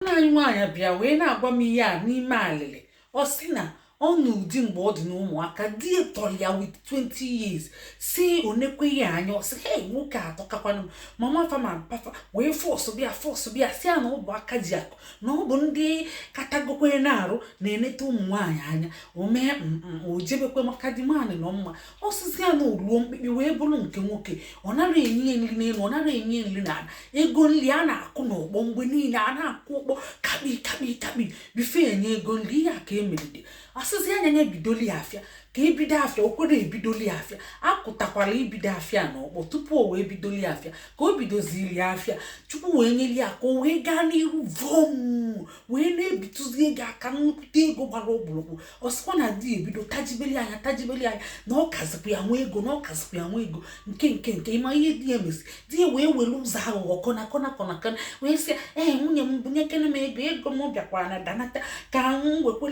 nne anyị nwaanyị bịa wee na-agwa m ihe a n'ime alịlị ọ sị na ọ na ụdị mgbe ọ dị n'ụmụaka di ya tọrọ ya with 20 years si o nekwa ya anya ọ sị hei nwoke a atọkakwanụ m mama fa ma papa fa wee fọsụba ya fọsụba ya sị ya na ọ bụ aka ji akụ na ọ bụ ndị katagokwere n'arụ na-eneta ụmụ nwaanyị anya o mee mm, mm, o jebekwe maka di nwaanyị nọ mma ọ sịzi ya na o ruo mkpikpi wee bụrụ nke nwoke ọ nara enye nri n'elu ọ nara enye nri n'ala ego nri a na-akụ n'ọkpọ mgbe niile a na-akụ ọkpọ kakpi kakpi kakpi before enye ego nri ihe a ka e meride a sịzi ya nya bidoli afịa ka ebido afịa o kwere ebidoli afịa akụtakwara ibido afịa n'ọkpọ tupu o wee bidoli afịa ka o bidoziri afịa chukwu wee nyere ya aka o wee gaa n'ihu vom wee na-ebitụzi ego aka nnukwu ego gbara ọkpụrụkpụ ọ sịkwa na di ya ebido tajibeli anya tajibeli anya na ọ kazikwa ya nwe ego na ọ kazikwa ya nwe ego nke nke nke ị ma ihe di ya mezi di ya wee were ụzọ aghụghọ kọna kọna kọna kọna wee sị ee eh, nwunye m bunyekene m ego ego m bịakwara na danata ka m wekwe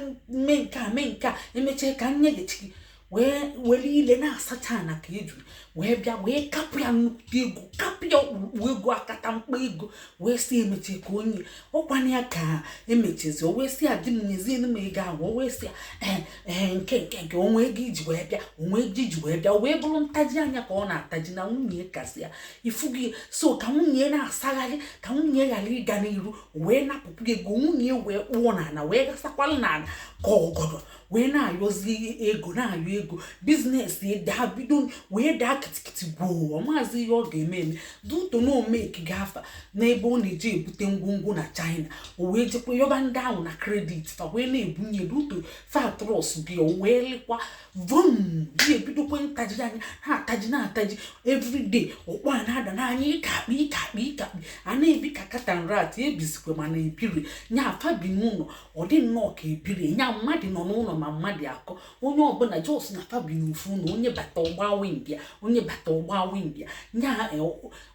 mee nke a mee nke a emechaa ka m nyeghachi gị wee were ile na-asacha na ka eju wee bịa wee kapụ ya nnukwu ego kapụ ya ọkpụrụkpụ ego akatamkpo ego wee sị ya emechee ka o nye ọkwana ya ka emechezi o wee sị ya di m nyezienụ m ego ahụ o wee sị ya ee eh, ee eh, nke nke nke o nwe ego i ji wee bịa o nwe ego i ji wee bịa o wee bụrụ ntaji anya ka ọ na-ataji na nwunye kazi ya ị fụgo ya so ka nwunye na-asagharị ka nwunye ghara ịga n'iru wee napụpụ ego nwunye wee kpụọ n'ala wee gasakwala n'ala ka ọgọdọ wee na-ayọzi ego na-ayọ ego business daa bido wee daa kịtịkịtị gwoo ọ mazị ihe ọ ga-eme eme due to na o mekigo afa n'ebe ọ na-eji ebute ngwongwo na china o wee jekwa yọba ndị ahụ na credit fa wee na-ebunye due to fa trust ya o wee lịkwa vum di ebidokwa ntaji anya na-ataji na-ataji everyday ọkpọ a na-ada n'anya ịkakpi ịkakpi ịkakpi a na-ebi ka cat and rat ebizikwa mana ebiri nya fa bi n'ụlọ ọ dị nnọọ ka ebiri nya mmadụ nọ n'ụlọ ma mmadụ akọ onye ọbụla just na fa bi n'ofu ụlọ onye bata ọ gba wind ya onye bata ọ gba wind ya nya e,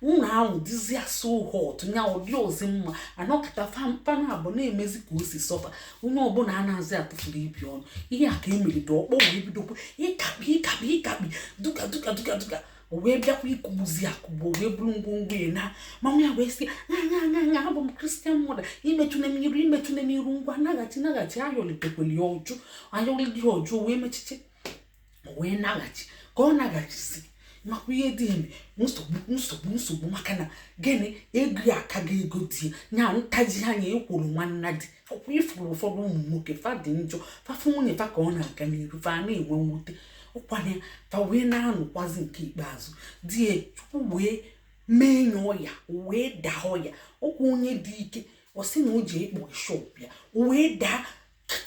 ụlọ ahụ dịzịa so hot nya ọ dịrọzi mma anọkọta fa naabọ na-emezi ka o si sọ fa onye ọbụla anazị atụfuru ibe ọnụ ihe a ka e meride ọkpọ wee bidokwa ịkakpi ịkakpi ịkakpi duka duka duka duka o wee bịakwa ịkụgbuzi akụgbu o wee buru ngwongwo ya naa mama ya wee sị nya nya nya abụ m christian mother imetọna m iru imetọna m iru ngwa naghachi naghachi ayọlitekwere ya ọ jụ ayọlị di ọ jụ wee mechiche wee naghachi ka ọ naghachizi makwa ihe di eme nsogbu nsogbu nsogbu maka na gịnị ego ya akago ego di ya ntaji anya ekworo nwanna di ọkwa ị fụrụ ụfọdụ ụmụ nwoke fa dị njọ fa fụ nwunye fa ka ọ na-aga n'iru fa na-enwe mwute ụkwanye fa wee na-anụkwazi nke ikpeazụ di ya chukwu wee mee nye ọya wee daa ọya ọkwa onye dị ike ọ sị na o ji ekpo shop ya wee daa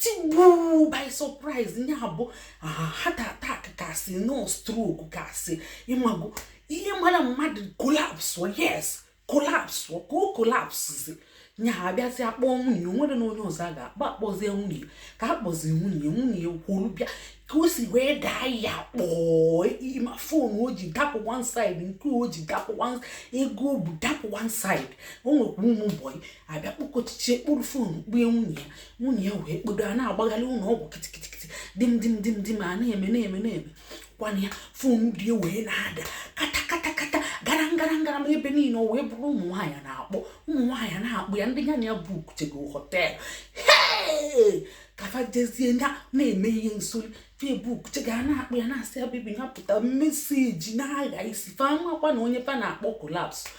tigbuo by surprise nya bụ heart attack ka a sị nọ stroke ka a sị ị mago ihe mara mmadụ kolapsụ yes kolapsụ ka o kolapsụzi nya a bịazi akpọ nwunye o nwere na onye ọzọ a ga-akpọ a kpọzie nwunye ka a kpọzi nwunye nwunye kwuru bịa ka o si wee daa ya kpọọ ị ma fon o ji dapụ one side nke o ji dapụ one ego o bu dapụ one side o nwekwa ụmụ bọyị abịa kpọkọchichie kporo fon kpue nwunye ya nwunye ya wee kporo a na-agbagharị ụlọ ọgwụ kịtịkịtịkịtị dim dim dim dim a na-eme na-eme na-eme kwana ya fon di wee na-ada kata kata kata gara ngara ngaram ebe niile o wee bụrụ ụmụ nwaanyị na-akpọ ụmụ nwaanyị na-akpọ ya ndị ya na ya bukuchego họteelụ ka fa jezie na na-eme ihe nsoli fa ebukuchega a na-akpọ ya na-asị ya bebi nya pụta meseji na-agha isi fa makwa na onye fa na-akpọ kolaps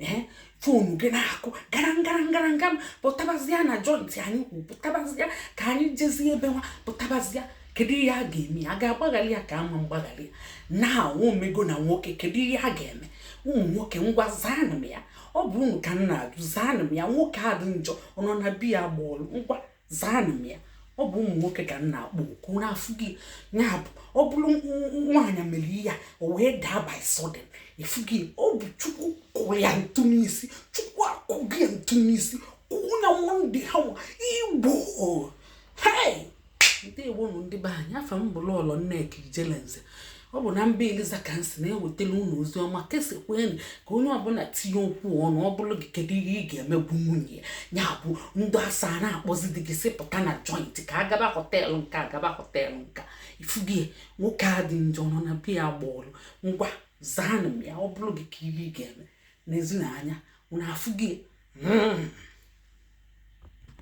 ee fonu gị na-akụ gara ngara ngara nga pụtabazia na jọntị anyị kwuru pụtabazia ka anyị jezie ebe nwa pụtabazia kedu ihe a ga-eme a ga-agbaghali ya ka a ma mgbaghali ya na o mego na nwoke kedu ihe a ga-eme ụmụ nwoke ngwa zaanụ m ya ọ bụ unu ka m na-ajụ zaanụ m ya nwoke adị njọ ọ nọ na be ya gbaa ọlụ ngwa zaanụ m ya ọ bụ ụmụ nwoke ka m na-akpọ oku unu afụgie nya bụ ọ bụrụ nwaanyị mere ihe o wee daa by sudden ị fụgie ọ bụ chukwu kụrụ ya ntụ n'isi chukwu akụgo ya ntụ n'isi kụọ nya monday hammer igbo hei ndị igbo nụ ndị be anyị afa m bụ lọlọ nneka ijelenze ọ bụ na mba eliza ka m si na-ewetara unu ozi ọma kesakwanụ ka onye ọbụla tinye okwu ọnụ ọ bụrụ gị kedu ihe ị ga-eme bụ nwunye ya bụ ndị asa na-akpọzi di gị sị pụta na joint ka a gaba họteelụ nka a gaba họteelụ nka ị fụgie nwoke adị njọ nọ na be ya gbaa ọlụ ngwa zaanụ m ya ọ bụrụ gị kee ihe ị ga-eme n'ezi na anya unu afụgie hmm.